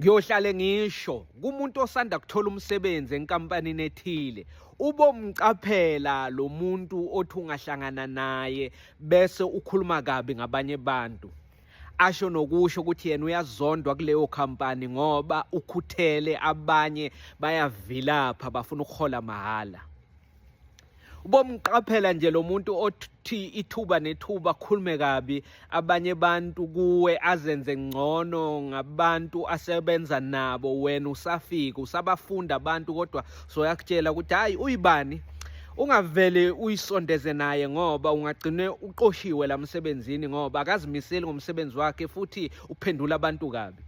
Ngiyohlale ngisho kumuntu osanda kuthola umsebenzi enkampanini ethile ubomcaphela lo muntu othi ungahlangana naye bese ukhuluma kabi ngabanye abantu asho nokusho ukuthi yena uyazondwa kuleyo khampani ngoba ukhuthele abanye bayavilapha bafuna ukuhola mahhala ubomqaphela nje lo muntu othi ithuba nethuba akhulume kabi abanye abantu kuwe azenze ngcono ngabantu asebenza nabo wena usafika usabafunda abantu kodwa soyakutshela ukuthi hhayi uyibani ungavele uyisondeze naye ngoba ungagcine uqoshiwe la msebenzini ngoba akazimiseli ngomsebenzi wakhe futhi uphendula abantu kabi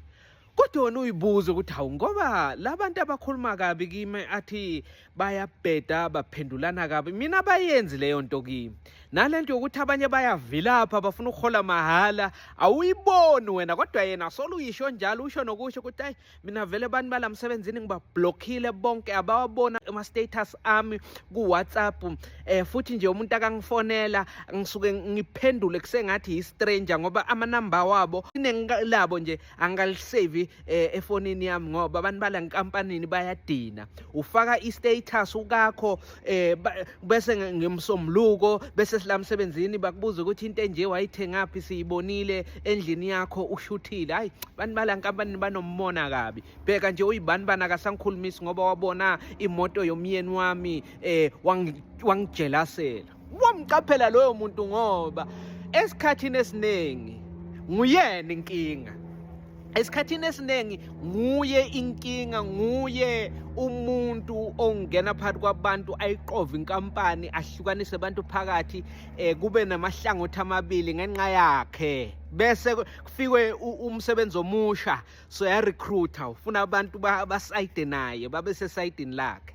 kodwa wena uyibuze ukuthi hawu ngoba labantu abakhuluma kabi kimi athi bayabheda baphendulana kabi mina bayenzi leyo nto kimi nalento yokuthi abanye bayavilapha bafuna ukuhola mahhala awuyiboni wena kodwa yena solo uyisho njalo usho nokusho ukuthi ayi mina vele abantu balamsebenzini ngibablockile bonke abawabona ama status ami ku WhatsApp eh futhi nje umuntu akangifonela ngisuke ngiphendule kusengathi yi stranger ngoba ama number wabo inengilabo nje angalisave eh, efonini yami ngoba abantu bala nkampanini bayadina ufaka i status ukakho eh bese ngimsomluko bese silamsebenzini bakubuza ukuthi into enje wayithengaphi siyibonile endlini yakho ushuthile hayi abantu bala nkampanini banomona kabi bheka nje uyibani bana kasangikhulumisi ngoba wabona imoto yomyeni wami eh wangijelasela wamqaphela loyo muntu ngoba esikhathini esiningi nguyena inkinga esikhathini esiningi nguye inkinga nguye umuntu ongena phakathi kwabantu ayiqove inkampani ahlukanise abantu phakathi eh kube namahlangothi amabili ngenxa yakhe bese kufikwe umsebenzi omusha so ya recruiter ufuna abantu basayide naye babe sesayidini lakhe